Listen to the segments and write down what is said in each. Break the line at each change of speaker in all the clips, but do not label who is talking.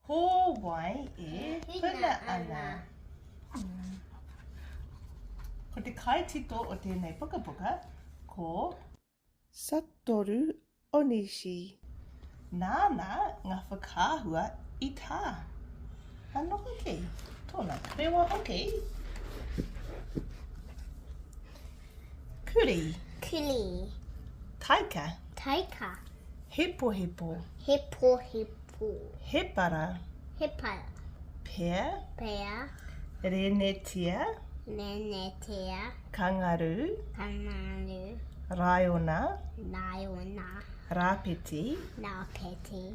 Ho wai e huna ana. Ko te kaitito o tēnei pukapuka ko. Satoru Onishi. Nāna ngā whakaahua i tā. Anō hoki, tōna tarewa hoki. Kuri. Kuri.
Taika.
Taika.
Hepohepo.
Hepohepo.
Hepara.
Hepara.
Pea.
Pea.
Renetia.
Renetia.
Kangaru.
Kangaru.
Raiona.
Raiona.
Rapeti.
Rapeti.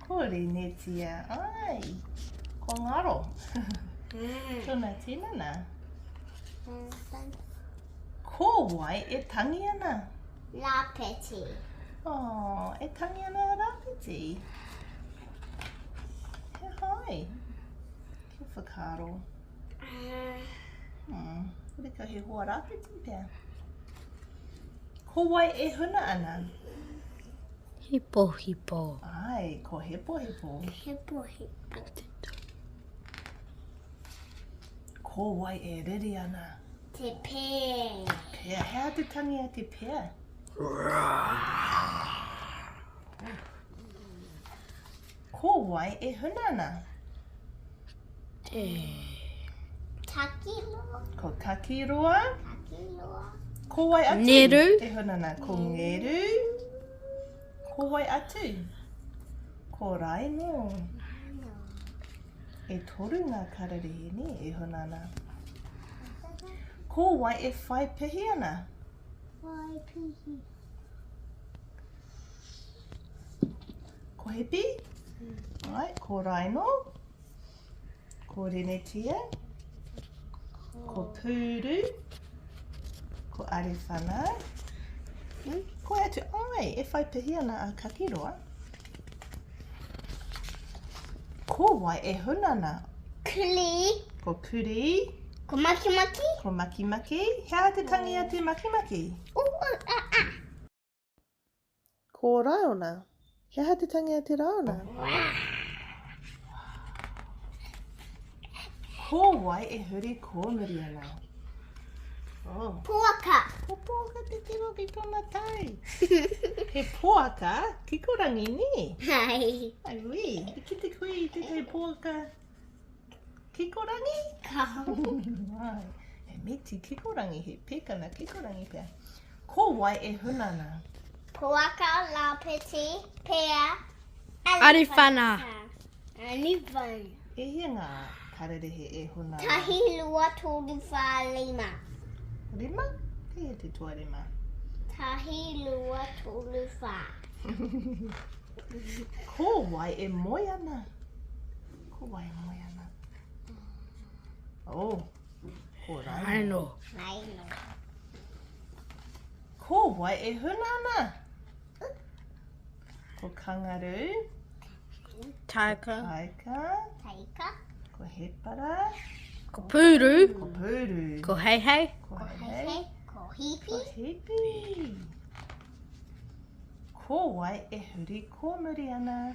Ko
Renetia, ai, ko Ngaro. Mm. Tuna tinana. Ko wai e tangi ana? Rapeti.
Oh,
e tangi ana a Rapeti. He hai. Kia whakaro. Uh. Hmm. Rika he hoa Rapeti pia. Ko wai e huna ana?
Hipo hipo. Ai, ko hipo
hipo. Hipo hipo. Ko wai e riri ana? Te
pēa. Pēa. Hea te
tangi a te pēa? Rāh. Ko wai e huna ana? Te.
Takiroa. Ko Takiroa. Takiroa. Ko wai atu?
Neru. E huna ana.
Ko
Ngeru. Ko wai atu? Ko Raino. E toru ngā kararehe ni e huna ana. Ko wai e whai pihi ana? Wai
pihi.
Ko Hipi, right, ko Raino, ko Renetia, ko Pūru, ko Arewhana, ko atu, ai, e whai pihi ana a Kakiroa. Ko wai e huna ana? Kuli.
Ko Kuri.
Ko Makimaki.
Ko Makimaki.
Hea te tangi a te Makimaki? Makimaki. Ko Raona. He aha te tangi a te Raona? Ko wai e huri kōmuri ana? Oh. Poaka.
Ko poaka te
tiro ki tona tai. he poaka ki ko rangi ni. Hai. Ai
ui. I
ki te kui te tai poaka. Kikorangi? he miti kikorangi, he pekana kikorangi pea. Ko wai e huna na? Ko waka,
lapeti, pea, arifana.
Arifana.
E hia nga
kararehe e huna na? Tahi, lua,
toru, wha, lima. Rima?
He he te tua rima? Tahi,
lua, toru, wha.
Ko wai e moe ana? Ko wai a moe ana? Oh, ko Raino.
Raino.
Ko wai e huna ana? Ko kangaru.
Taika. Taika.
Taika.
Ko hepara.
Ko
pūru. Ko pūru.
Ko heihei. Ko
heihei.
Ko hipi.
Ko hipi.
Ko wai e huri kōmuri ana?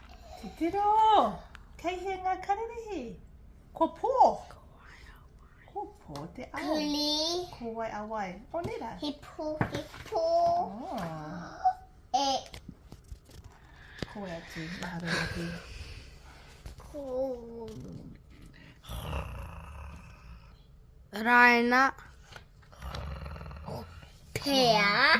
Te tiro! Kei hea ngā kararehe? Ko pō? Ko pō te ao. Kuli. Ko wai
a wai.
O nera. He pō, he
pō.
Oh. E. Ko e atu, mahara atu. Ko.
Raina.
Pea.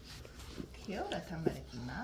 Kia ora tamariki mā.